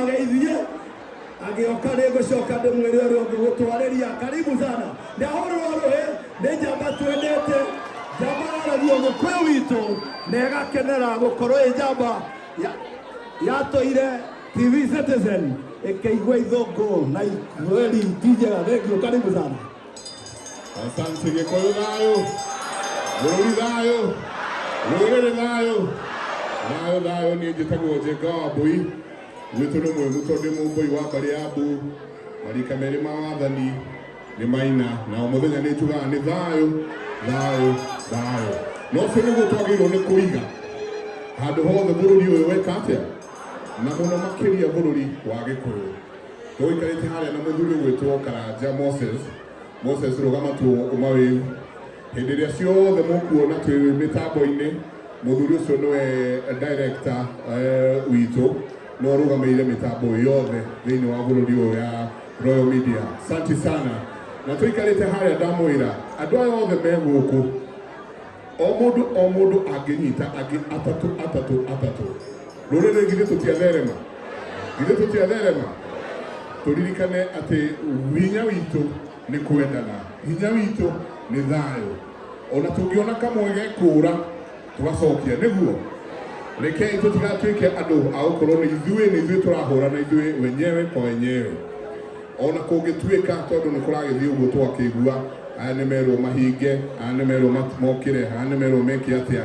ageithie agĩoka nĩ ngũcoka ndĩmwĩre ũrĩa ũngĩgũtwarĩria karibu sana ndahũrĩrwo rũhĩ nĩ njamba twendete njamba yaragia ũgĩkũyũ witũ na ĩgakenera gũkorwo ĩ njamba ya- yatũire tv citizen ĩkĩigua ithũngũ na ikweli ti njega thengiũ karibu sana Asante Gikuyu thayo, Bũrũri thayo, rũrĩrĩ thayo, thayo thayo. Niĩ njĩtagwo Njenga wa Mbũi, gwitũ nĩ mwĩgu tondũ ndĩ Mũmbũi wa mbarĩ ya Mbu. Marika merĩ ma wathani nĩ maina, na o mũthenya nĩ njugaga nĩ thayo, thayo, thayo. Na ũcio nĩguo twagĩrĩirwo nĩ kũiga handũ hothe bũrũri ũyũ weka atĩa, na mũno makĩria bũrũri wa Gĩkũyũ. Tũikarĩte harĩa na mũthuri ũgwĩtwo Karanja Moses. Moses rũgama tu umawĩu. Hĩndĩ ĩrĩa ciothe mũkuona twĩ mĩtambo-inĩ, mũthuri ũcio nĩwe director eh, witũ no rũgamĩire mĩtambo yothe thĩinĩ wa bũrũri ũyũ ya Royal Media. Santi sana. Na tũikarĩte harĩa ndamwĩra andũ aya othe me gũkũ o mũndũ o mũndũ angĩnyita angĩ atatũ atatũ atatũ rũrĩrĩ githĩ tũtiatherema githĩ tũtiatherema tũririkane atĩ hinya witũ nĩ kwendana hinya witũ nĩ thayũ ona tũngĩona kamwe gekũra tũgacokia nĩguo rekei tũtigatuĩke andũ a gũkorwo nĩ ithuĩ nĩ ithuĩ tũrahũrana ithuĩ wenyewe kwa wenyewe ona kũngĩtuĩka tondũ nĩ kũragĩthiĩ ũguo twakĩigua aya nĩ merwo mahinge aya nĩ merwo mokĩre aya nĩ merwo meke atĩa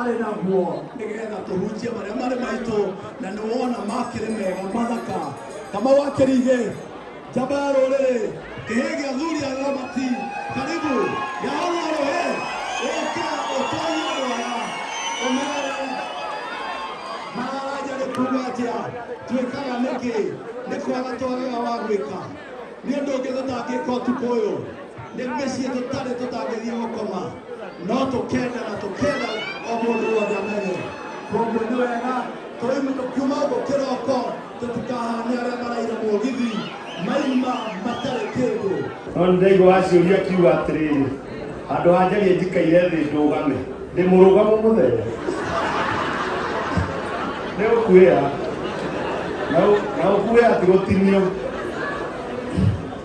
arĩ naguo nĩgetha tũhunjie marĩa marĩ maitũ na nĩ wona makĩrĩ mega mathaka kamau akĩrigĩ njamba ya rũrĩrĩ kĩhĩ gĩa thuri ya ramati karibu yahorwo rũhĩ ũke ũtorie rwaya ũmerere mararanja nĩ kuga atĩa twĩkaga nĩkĩ nĩ kwaga twagaga wa gwĩka nĩ ũndũ ũngĩ tũtangĩka ũtukũ ũyũ nĩ mĩciĩ tũtarĩ tũtangĩthiĩ gũkoma no tũkenda na tũkenda o mũndũ wothe amenye koguo nĩ wega tũimũka kuma ũguo kĩroko tũtikahane arĩa maraira mũgithi maima matarĩ kĩndũ no nĩ ndaigua aciũria kiuga atĩrĩrĩ handũ ha njarie njikaire thĩ ndũgame ndĩ mũrũgamo mũthenya nĩ ũkuĩra na ũkuĩra ti gũtinio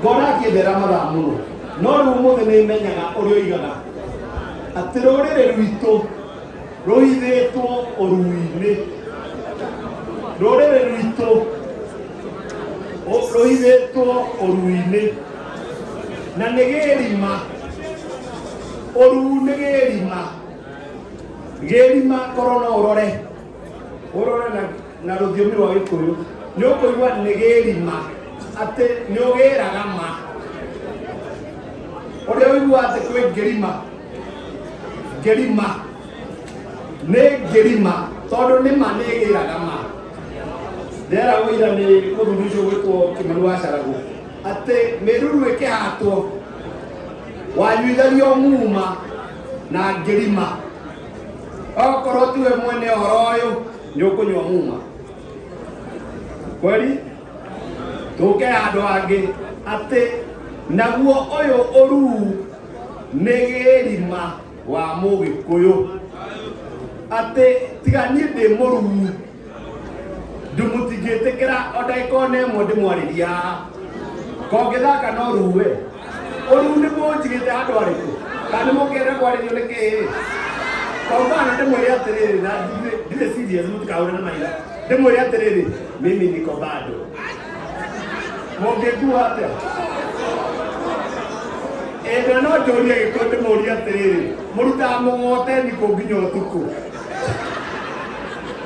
ngona akĩndera mathaa mũno no rĩu ũmũthĩ nĩ menyaga ũrĩa oigaga atĩ rũrĩrĩ rwitũ rũhithĩtwo ũrui-inĩ rũrĩrĩ rwitũ rũhithĩtwo ũrui-inĩ na nĩ gĩrima ũru nĩ gĩrima gĩrima korona ũrore urore na na rũthiomi rwa gĩkũyũ nĩ ũkũigua nĩ gĩrima atĩ nĩ ũgĩraga ma ũrĩa ũigua atĩ kwĩ ngĩrima ngĩrima nĩ ngĩrima tondũ nĩ ma nĩ ĩgĩraga ma ndera wĩira nĩ mũthuri ũcio gwĩtwo kĩmani wa caragũ atĩ mĩruru ĩkĩhatwo wanyuithagia mũma na ngĩrima okorwo tiwe mwene ũhoro ũyũ nĩ ũkũnyua muma kweli tũke andũ angĩ atĩ naguo ũyũ ũruu nĩ gĩrima wa mũgĩkũyũ atĩ tiga niĩ ndĩ mũruu ndimũtingĩtĩkĩra o ndagĩka ona ĩmwe ndĩmwarĩria kongĩthaka no ruwe ũru nĩ mũnjigĩte handũ arĩkũ kana nĩ mũkĩenda kwarĩrio nĩ kĩĩ kwa mfano ndĩmwĩre atĩrĩrĩ na ndirĩ- ndirĩ serious mũtikahũre na maitho ndĩmwĩre atĩrĩrĩ mimi niko bado mũngĩkua atĩa ĩndĩ no njũrie gĩkũ ndĩmũrie atĩrĩrĩ mũrutaga mũgoteni kũ nginya ũtukũ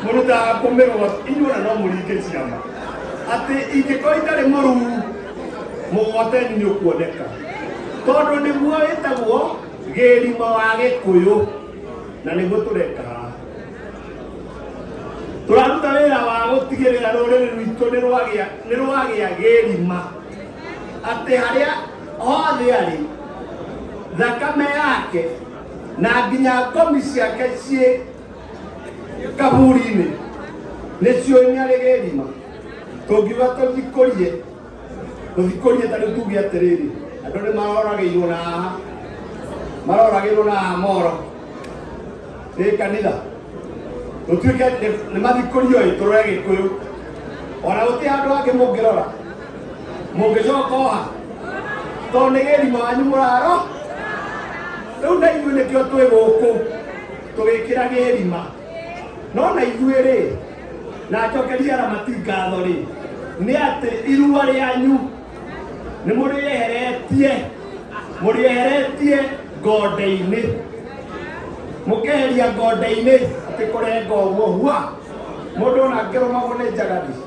mũrutaga kũmĩrwa inyuona no mũringe ciama atĩ ingĩkorwo itarĩ mũruu mũgwateni nĩ ũkuoneka tondũ nĩguo wĩtagwo gĩrima wa gĩkũyũ na nĩguo tũreka haha tũraruta wĩra wa gũtigĩrĩra rũrĩrĩ rwitũ nĩ rwagĩa- nĩ rwagĩa gĩrima atĩ harĩa hothe arĩ thakame yake na nginya ngomi ciake ciĩ kaburi-inĩ nĩcio nyarĩ gĩthima tũngiuga tũthikũrie tũthikũrie ta rĩu tuge atĩrĩrĩ andũ nĩ maroragĩirwo na haha maroragĩirwo na haha moro ĩ kanitha tũtuĩke nĩ mathikũrio ĩ tũrore gĩkũyũ ona gũtirĩ andũ angĩ mũngĩrora mũngĩcoka oha tondũ nĩ gĩthima wanyu mũraro rĩu na ithuĩ nĩkĩo twĩ gũkũ tũgĩkĩra gĩthima no na ithuĩ rĩ na acokeria aramati ngatho rĩ nĩ atĩ irua rĩanyu nĩ mũrĩeheretie mũrĩeheretie ngonde-inĩ mũkeheria ngonde-inĩ atĩ kũrenga ũguo hua mũndũ ona angĩrũmagwo nĩ njagathi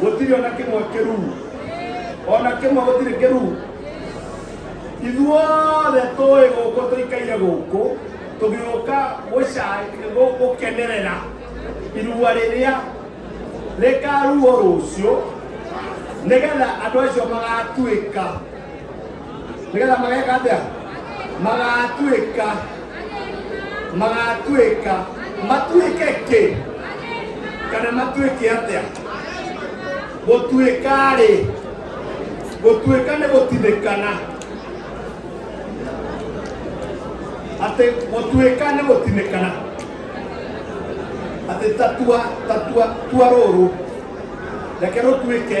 gũtirĩ ona kĩmwe kĩruu ona kĩmwe gũtirĩ kĩruu ithuothe tũĩ gũkũ tũikaire gũkũ tũgĩũka gũkenerera irua rĩrĩa rĩkaruo rũciũ nĩgetha andũ acio magatuĩka nĩgetha mageka atĩa magatuĩka magatuĩka matuĩke kĩ kana matuĩke atĩa gũtuĩka rĩ gũtuĩka nĩ gũtithĩkana atĩ gũtuĩka nĩ gũtinĩkana atĩ tatua tatua tua rũrũ reke rũtuĩke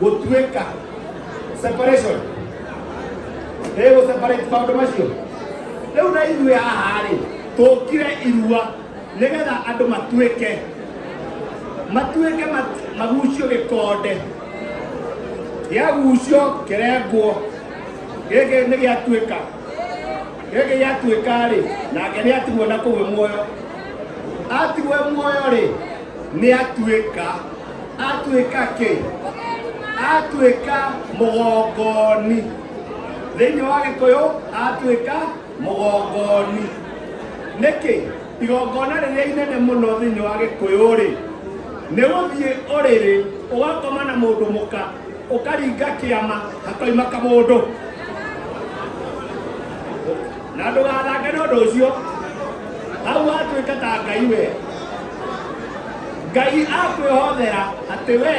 gũtuĩka separation ĩgũ separate maũndũ macio rĩu na ithuĩ haha-rĩ tũkire irua nĩgetha andũ matuĩke matuĩke mat- magucio gĩkonde gĩagucio kĩrengwo gĩkĩ nĩ gĩatuĩka gĩkĩ gĩatuĩka-rĩ nake nĩatigwo na kũu muoyo atigwo muoyo-rĩ nĩ atuĩka atuĩka kĩ atuĩka mũgongoni thĩinĩ wa gĩkũyũ atuĩka mũgongoni nĩkĩ igongona rĩrĩa inene mũno thĩinĩ wa gĩkũyũ rĩ nĩ gũthiĩ ũrĩrĩ ũgakoma na mũndũ mũka ũkaringa kĩama hakoima kamũndũ na ndũgathange na ũndũ ũcio hau watuĩka ta ngai we ngai akwĩhothera atĩ we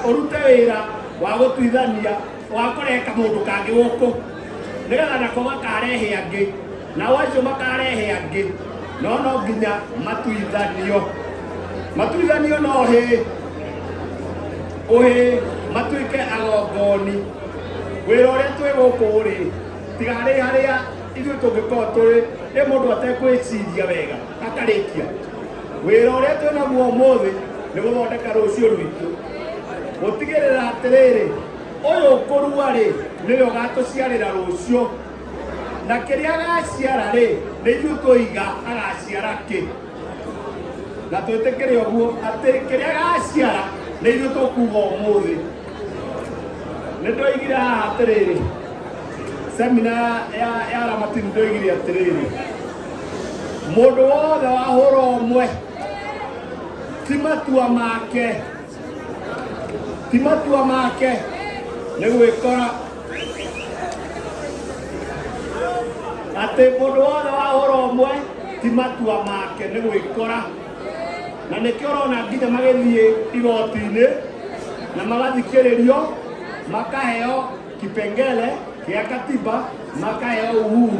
ũrute wĩra wa gũtuithania wa kũreka mũndũ kangĩ gũkũ nĩgetha nako makarehe angĩ nao acio makarehe angĩ no no nginya matuithanio matuithanio no hĩ ũhĩ matuĩke agongoni wĩra ũrĩa twĩ gũkũ rĩ tiga harĩ harĩa ithuĩ tũngĩkorwo tũrĩ ĩ mũndũ atekwĩciria wega akarĩkia wĩra ũrĩa twĩ naguo ũmũthĩ nĩ gũthondeka rũciũ rwitũ gũtigĩrĩra atĩrĩrĩ ũyũ ũkũrua rĩ nĩwe ũgatũciarĩra rũciũ na kĩrĩa agaciara rĩ nĩ ithuĩ tũiga agaciara kĩ na twĩtĩkĩre ũguo atĩ kĩrĩa agaciara nĩ ithuĩ tũkuga ũmũthĩ nĩ ndoigire haha atĩrĩrĩ semina ya ya aramati nĩ ndoigire atĩrĩrĩ Mũndũ wothe wahũra ũmwe ti matua make ti matua make nĩ gwĩkora atĩ mũndũ wothe wahũra ũmwe ti matua make nĩ gwĩkora na nĩkĩo ũrona nginya magĩthiĩ igoti-inĩ na magathikĩrĩrio makaheo kipengele gĩa katiba makaheo uhuru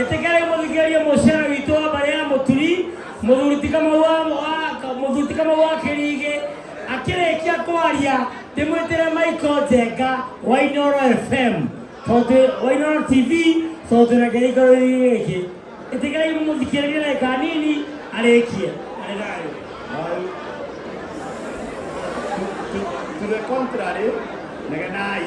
ĩtĩkĩrai mũthikĩrĩrie mũciara witũ wa mbarĩ ya mũturi mũthuri tikamau wa wa- mũthuri tikamau wa kĩrigĩ akĩrĩkia kwaria ndĩmwĩtĩre maiko njenga wa inoro fm tondũ wa inoro tv tondũ twĩna kĩrĩko gĩkĩ ĩtĩkĩrai mũthikĩrĩrie na ĩka nini arĩkie arĩ nayo To the contrary, negenai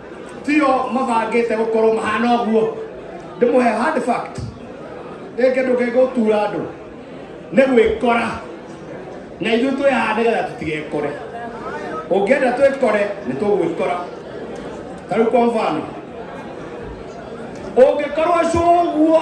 tio mabangĩte gũkorwo mahana ũguo ndĩmũhe hard fact rĩngĩ ndũngĩgũtura andũ nĩ gwĩkora na ithuĩ twĩ haha nĩgetha tũtigekore ũngĩenda twĩkore nĩ tũgwĩkora tarĩu kwa mfano ũngĩkorwo cũguo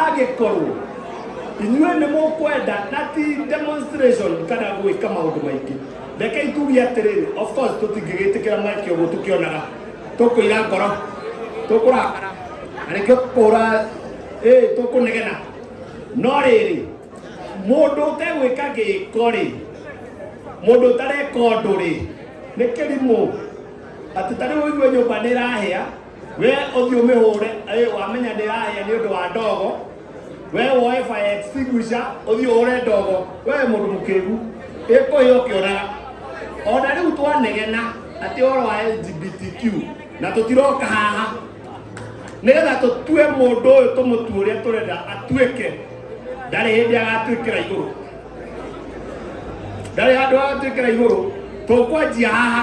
agĩkorwo inyuĩ nĩ mũkwenda na ti demonstration kana gwĩka maũndũ maingĩ rekei tuge atĩrĩrĩ of course tũtingĩgĩtĩkĩra mweke ũguo tũkĩonaga tũkũira ngoro tũkũrakara na nĩkĩo tũkũhũra ĩ tũkũnegena no rĩrĩ mũndũ ũtegwĩka gĩko rĩ mũndũ ũtareka ũndũ rĩ nĩ kĩrimũ atĩ tarĩu ũigue nyũmba nĩ ĩrahĩa we ũthiĩ ũmĩhũre ĩ, wamenya ndĩrahĩa nĩ ũndũ wa ndogo we woe fire extinguisher ũthiĩ ũhũre ndogo we mũndũ mũkĩgu ĩkũhĩa ũkĩonaga ona rĩu twanegena atĩ ũhoro wa LGBTQ na tũtiroka haha nĩgetha tũtue mũndũ ũyũ tũmũtue ũrĩa tũrenda atuĩke ndarĩ hĩndĩ agatuĩkĩra igũrũ ndarĩ handũ agatuĩkĩra igũrũ tũkwanjia haha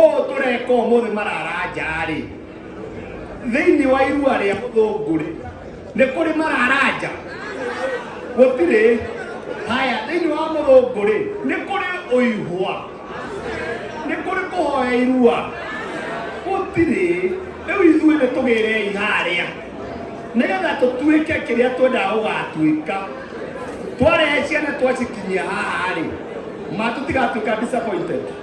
ũũ tũreka ũmũthĩ mararanja-rĩ thĩinĩ wa irua rĩa mũthũngũ-rĩ nĩ kũrĩ mararanja gũtirĩ haya thĩinĩ wa mũthũngũ-rĩ nĩ kũrĩ ũihwa nĩ kũrĩ kũhoya irua gũtirĩ rĩu ithuĩ nĩ tũgĩrei harĩa nĩgetha tũtuĩke kĩrĩa twendaga gũgatuĩka twarehe ciana twacikinyia haha-rĩ ma tũtigatuĩka disappointed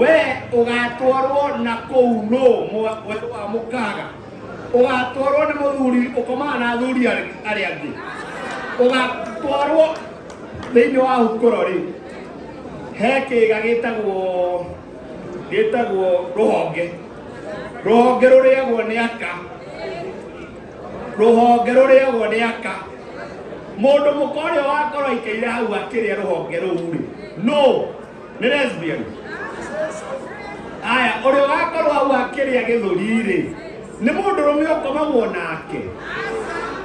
we ugatwarwo na kuu no mweri wa mukaga ugatwarwo ni muthuri ukomaga na athuri aria angi ugatwarwo thiini wa hukuro ri he kiga gitagwo gitagwo ruhonge ruhonge ruriagwo ni aka ruhonge ruriagwo ni aka mundu mukoria wakorwo ikeire hau akiria ruhonge ruu ri no nĩ lesbian aya ũrĩa ũgakorwo hau akĩrĩa gĩthũri-rĩ nĩ mũndũ rũme ũkomagwo nake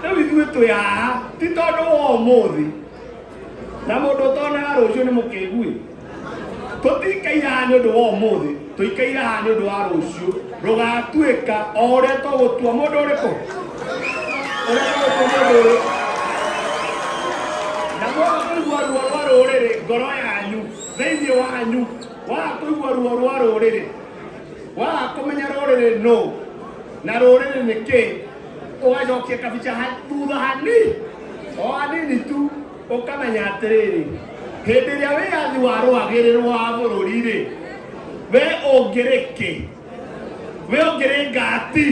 rĩu ithuĩ twĩ haha ti tondũ wa ũmũthĩ na mũndũ ũtonaga rũciũ nĩ mũkĩguĩ tũtikaira nĩ ũndũ wa ũmũthĩ tũikaire haha nĩ ũndũ wa rũciũ rũgatuĩka o ũrĩa tũgũtua mũndũ ũrĩkũ ũrĩa tũgũtua mũndũ ũrĩkũ na mwaga kũigua ruo rwa rũrĩrĩ ngoro yanyu thĩinĩ wanyu waga kũigua ruo rwa rũrĩrĩ waga kũmenya rũrĩrĩ nũ na rũrĩrĩ nĩ kĩ ũgacokia kabica ha- thutha hanini o hanini tu Ũkamenya atĩrĩrĩ, hĩndĩ ĩrĩa wĩyathi wa rwagĩrĩrwo wa bũrũri-rĩ, we ũngĩrĩ kĩ? We ũngĩrĩ ngati?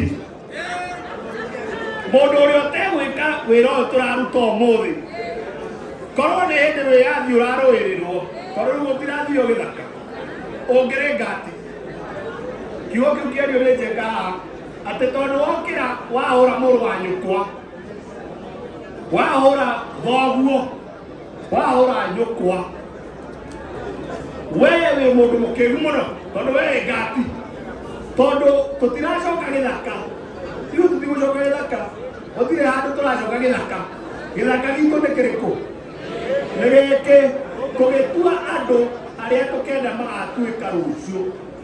Mũndũ ũrĩa ũtegwĩka wĩra ũyũ tũraruta ũmũthĩ, korwo nĩ hĩndĩ wĩyathi ũrarũĩrĩrwo, korwo rĩu ũtirathio gĩthaka, ũngĩrĩ ngati? Kiugo kĩu kĩario nĩ njeka atĩ tondũ wokĩra wahũra mũrũ wa nyũkwa wahũra thoguo wahũra nyũkwa wee wĩ mũndũ mũkĩgu mũno tondũ wee ngati tondũ tũtiracoka gĩthaka ithuĩ tũtigũcoka gĩthaka gũtirĩ handũ tũracoka gĩthaka gĩthaka gitũ nĩ kĩrĩkũ nĩ gĩkĩ tũgĩtua andũ arĩa tũkenda magatuĩka rũciũ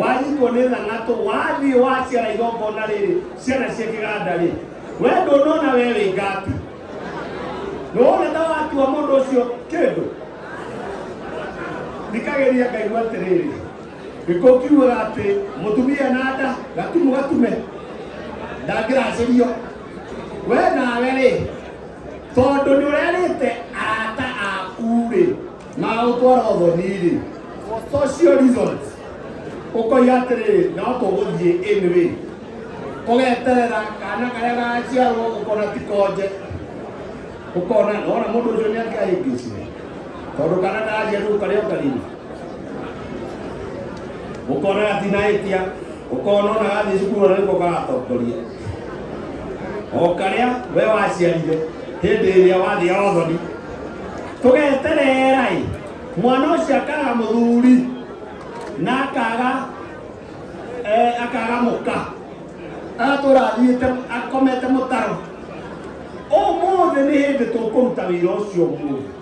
wahingwo nĩ thangatũ wathiĩ waciara igongona rĩrĩ ciana cia kĩganda rĩ we ndũnona we wĩ ngati nĩwona ta watua mũndũ ũcio kĩndũ thikagĩria ngaigua atĩrĩrĩ gĩkũ kiugaga atĩ mũtumia na nda gatumu gatume ndangĩracĩrio we nawe rĩ tondũ nĩ ũrerĩte arata aku rĩ na agũtwara ũthoni-rĩ for social reasons ũkoiga atĩrĩrĩ no tũgũthiĩ in way ũgeterera kana karĩa gaciarwo ũkona ti konje ũkona ona mũndũ ũcio nĩ angĩahĩngĩcire tondũ kana ndaria rĩu karĩa ũkarima ũkona atinahĩtia ũkona ona gathiĩ cukuru ona nĩko karatongoria o karĩa we waciarire hĩndĩ ĩrĩa wathĩa othoni tũgeterera-ĩ mwana ũcio akaga mũthuri na akaga eh, akaga mũka agatũra athiĩte akomete mũtaro ũmũthĩ nĩ hĩndĩ tũkũruta wĩra ũcio ũmũthĩ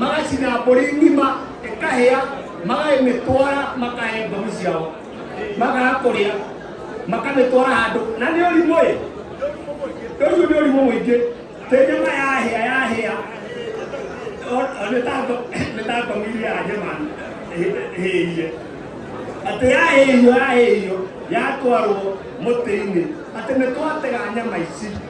magacina mbũri ng'ima ĩkahĩa magagĩmĩtwara makahe mbamu ciao magaga kũrĩa makamĩtwara handũ na nĩ ũrimũ ĩ ũcio nĩ ũrimũ mũingĩ tĩ nyama yahĩa yahĩa nĩtangomirie anyama hĩie atĩ yahĩhio yahĩhio yatwarwo mũtĩ-inĩ atĩ nĩtwatega nyama ici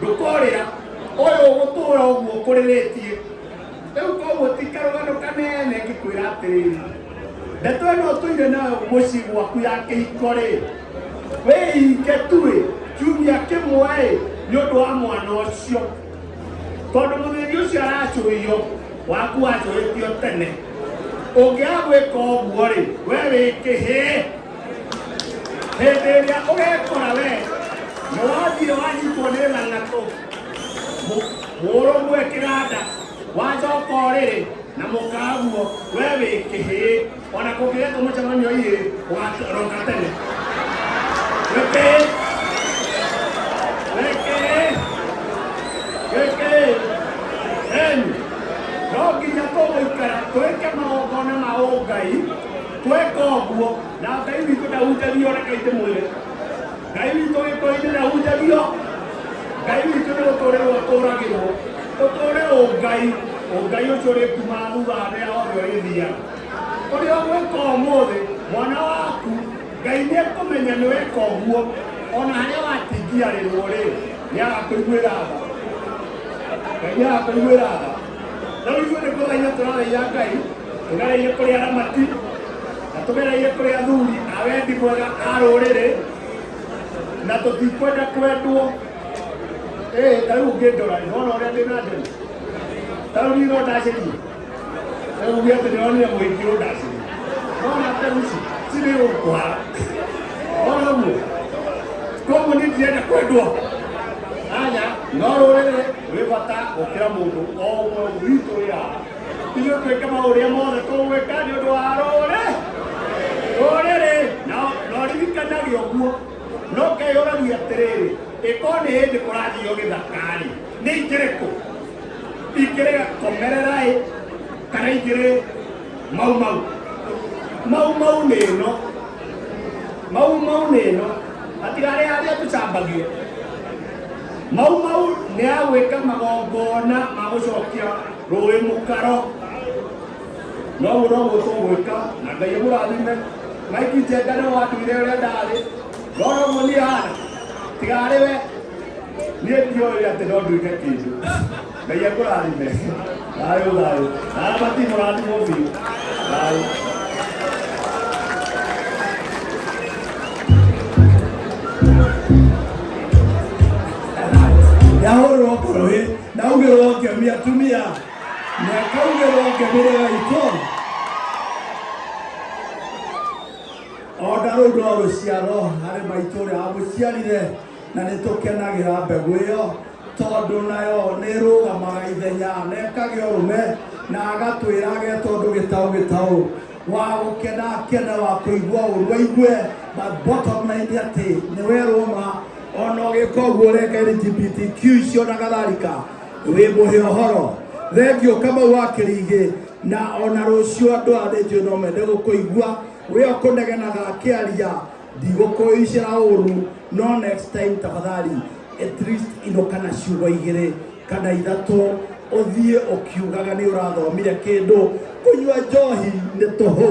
ndũkorĩra ũyũ ũgũtũra ũguo ũkũrĩrĩtie rĩu koguo ti karũgano kanene ngĩkwĩra atĩrĩrĩ ndeto ĩno ũtũire nayo mũciĩ gwaku ya kĩhiko rĩ wĩhinge tuĩ kiumia kĩmwe ĩ nĩ ũndũ wa mwana ũcio tondũ mũthĩni ũcio aracũio waku wacũĩtio tene ũngĩagwĩka ũguo rĩ we wĩkĩhĩe hĩndĩ ĩrĩa ũgekora we nĩ wathire wanyitwo nĩ lalatũ mũrũmwe kĩganda wacoka ũrĩrĩ na mũkaguo we wĩ kĩhĩĩ ona kũngĩgetwo mũcemanio irĩ ũgaroka tene wĩkĩĩ wĩkĩĩ wĩkĩĩ eni no nginya tũgũikara twĩke magongona ma ũngai tweka ũguo na ngai witũ ndahunjagio rekai ndĩmwĩre ngai witũ gĩkũinĩ ndahunjagio ngai witũ nĩ gũtũrĩrwo ũtũragĩrwo ũtũre ũngai ũngai ũcio ũrĩ kuma thutha harĩa hothe ũrĩthia ũrĩa ũgwĩka ũmũthĩ mwana waku ngai nĩ ekũmenya nĩ weka ũguo ona harĩa watingiarĩrwo rĩ nĩ agakũiguĩra tha ngai nĩ agakũiguĩra tha rĩu ithuĩ nĩ kũthaia tũrathaia ngai tũgereire kũrĩ aramati na tũgereire kũrĩ athuri a wendi mwega a rũrĩrĩ na tũtikwenda kwendwo ĩĩ ta rĩu ũngĩndora nĩ wona ũrĩa ndĩ na ndemu ta rĩu nino ndacĩrie rĩu uge atĩ nĩwonire mũingĩ ũndacĩrie wona ndemu ici cirĩ ũkwara wona guo koguo nĩ ndirenda kwendwo anya no rũrĩrĩ wĩ bata gũkĩra mũndũ o ũmwe witũ ya ithuĩ twĩke maũrĩa mothe tũgwĩka nĩ ũndũ wa rũrĩ rũrĩrĩ na na ũririkanage ũguo no ngai ũragia atĩrĩrĩ ĩkorwo nĩ hĩndĩ kũrathiio gĩthakari nĩ ingĩrĩkũ ingĩrĩ komereraĩ kana ingĩrĩ mau mau mau mau nĩ ĩno mau mau nĩ ĩno hatigarĩ harĩa tũcambagia Mau mau nĩ agwĩka magongona ma gũcokia rũĩ mũkaro no ũguo no guo tũgwĩka na ngai mũrathime maiki njenga nĩ wandũire ũrĩa ndarĩ no no guo niĩ hana tiga arĩ we niĩ ndiũĩ atĩ no nduĩke kĩndũ ngai akũrathime thayũ thayũ naabati mũrathimwo biũ thayũ yahũrwo kũrũĩ naugĩrwo ngemi atumia nekaugĩrwo ngemi rĩega itũ onda rũu no rũciaro harĩ maitũ ũrĩa wamũciarire na nĩ tũkenagĩra mbegũ ĩyo tondũ nayo nĩ ĩrũgamaga ithenya na ĩkagĩa ũrũme na agatwĩra age tondũ gĩtaũ gĩtaũ wa gũkena akene wa kũigua ũru aigue but bottom line nĩ atĩ nĩ werwo ma ona ũgĩka ũguo ũreka LGBTQ icio na gatharika wĩ mũhe ũhoro thengio kamau wa kĩrigĩ na ona rũciũ andũ a rĩnjũ no mende gũkũigua wĩ ũkũnegenaga akĩaria Thigũkũ ici cia ũũrũ no next time tafadhali at least indo kana ciugo igĩrĩ kana ithatũ ũthiĩ ũkiugaga nĩ ũrathomire kĩndũ kũnyua njohi nĩ tũhũ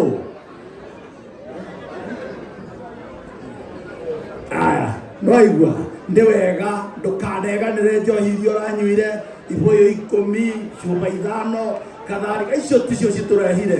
aya nwaigua nĩ wega ndũkaneganĩre njohi iria ũranyuire ibũyũ ikũmi cuba ithano katharika icio ticio citũrehire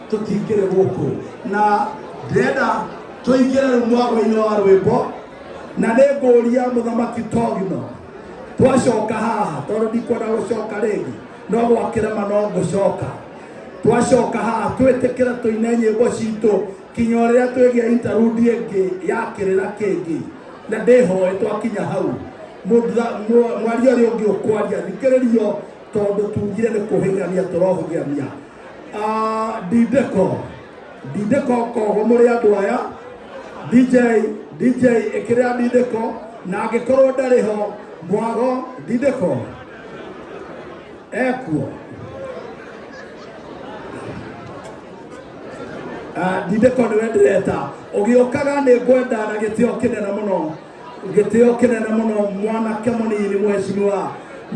tũtingĩrĩ gũkũ na ndĩrenda tũingĩre rĩu mwago-inĩ wa rwĩmbo na nĩ ngũria mũthamaki togino twacoka haha tondũ ndikwenda gũcoka rĩngĩ no gwakĩrema no ngũcoka twacoka haha twĩtĩkĩre tũine nyĩmbo citũ kinya rĩrĩa twĩgĩa intarudi ĩngĩ ya kĩrĩra kĩngĩ na ndĩhoe twakinya hau mũtha- mwa- mwaria ũrĩa ũngĩ ũkwaria thikĩrĩrio tondũ tugire nĩ kũhĩgania tũrohũgania Ah, ndindeko ndindeko kogo mũrĩ andũ aya dj dj ĩkĩrĩa ndindeko na angĩkorwo ndarĩ ho mwago ndindeko ekuo Ah, ndindeko nĩwe ndĩreta ũgĩũkaga nĩ ngwenda na gĩtĩo kĩnene mũno gĩtĩo kĩnene mũno mwanake mũnini mwecimiwa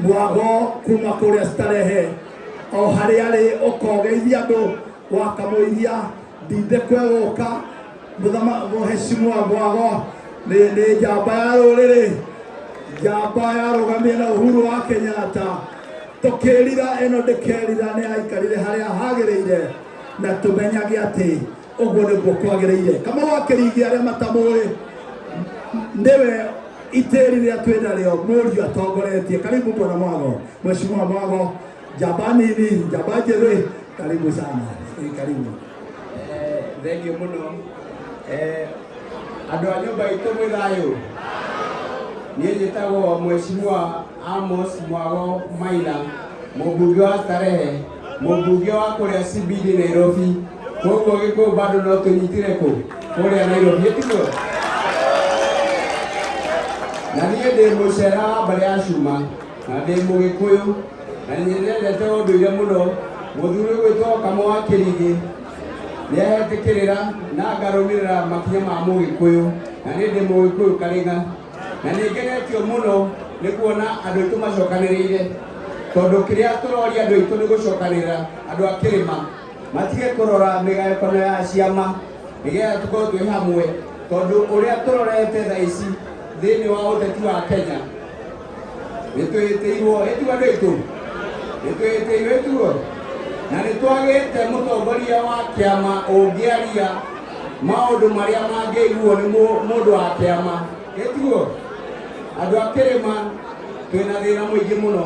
mwago kuma kũrĩa starehe o harĩa arĩ ũkogeithia andũ wakamũiria ndinde kwegũka mũthama mũhecimwa mwago nĩ nĩ njamba ya rũrĩrĩ njamba yarũgamire na uhuru wa kenyatta tũkĩrira ĩno ndĩkerira nĩ aikarire harĩa hagĩrĩire na tũmenyage atĩ ũguo nĩguo kwagĩrĩire kama wakĩringi arĩa matamũĩ nĩwe itĩri rĩrĩa twĩ narĩo mũriũ atongoretie karibu mwana mwago mheshimiwa mwago njamba nini njamba njĩthĩ karibu sana Ĩ, karibu Eh, thengiũ mũno Eh, andũ a nyũmba itũ mwĩ thayũ niĩ njĩtagwo mweshimiwa amos mwago maina mũmbunge wa starehe mũmbunge wa kũrĩa cbd nairobi koguo gĩkũyũ bado no tũnyitire kũ kũrĩa nairobi tiguo na niĩ ndĩ mũcera wa mbarĩ ya cuma na ndĩ mũgĩkũyũ na nyendete ũndũire mũno mũthuri gwĩtwo kamo wa kĩrigĩ nĩahetĩkĩrĩra na ngarũmĩrĩra makinya ma mũgĩkũyũ na nĩ ndĩ mũgĩkũyũ karĩga na nĩngenetio mũno nĩ kuona andũ aitũ macokanĩrĩire tondũ kĩrĩa tũroria andũ aitũ nĩ gũcokanĩrĩra andũ a kĩrĩma matige kũrora mĩgayũkano ya ciama nĩgetha tũkorwo twĩ hamwe tondũ ũrĩa tũrorete tha ici thĩinĩ wa ũteti wa kenya nĩ twĩtĩirwo ĩtuo andũ aitũ nĩ twĩtĩirwo ĩtuo na nĩ twagĩte mũtongoria wa kĩama ũngĩaria maũndũ marĩa mangĩiguo nĩ mũndũ wa kĩama ĩtuo andũ a kĩrĩma twĩna thĩna mũingĩ mũno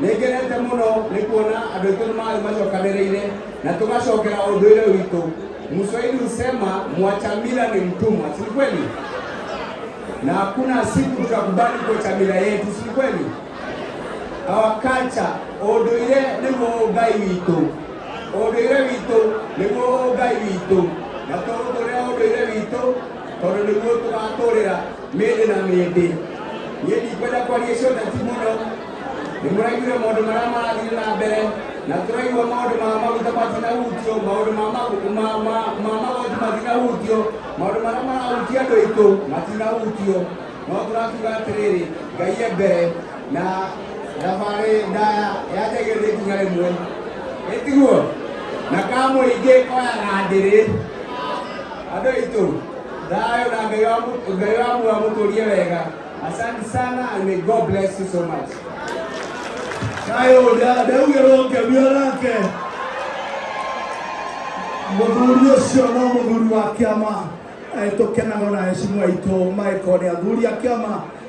Nĩngenete mũno nĩ kuona andũ aitũ nĩ marĩ macokanĩrĩire na tũgacokera ũndũire witũ. Mswahili husema mwacha mila ni mtumwa, si kweli? Na hakuna siku tutakubali kuacha mila yetu, si kweli? Our culture, ũndũire nĩguo ũgai witũ, ũndũire witũ nĩguo ũgai witũ, na tũũtũre ũndũire witũ tondũ nĩguo tũgatũrĩra. mĩndĩ na mĩndĩ niĩ ndikwenda kwaria icio neti mũno nĩ mũraiguire maũndũ marĩa marathire na mbere na tũraigua maũndũ ma maguta matinahutio maũndũ ma magu- ma- ma- ma magoti matinahutio maũndũ marĩa marahutia andũ aitũ matinahutio no tũrakiuga atĩrĩrĩ ngai e mbere na thabarĩ ndaya yanjagĩrĩria nĩ ikinya rĩmwe ĩtiguo na kamũingĩ koyaga ndĩrĩ andũ aitũ Thayo na Ngai wa mu- Ngai wa muoyo amũtũrie wega. Asante sana and may God bless you so much. Kayo da ndaugerwo ngemio nake mũthuri ũcio no mũthuri wa kĩama Eh, tũkenaga na hecimu aitũ maĩkoni athuri a kĩama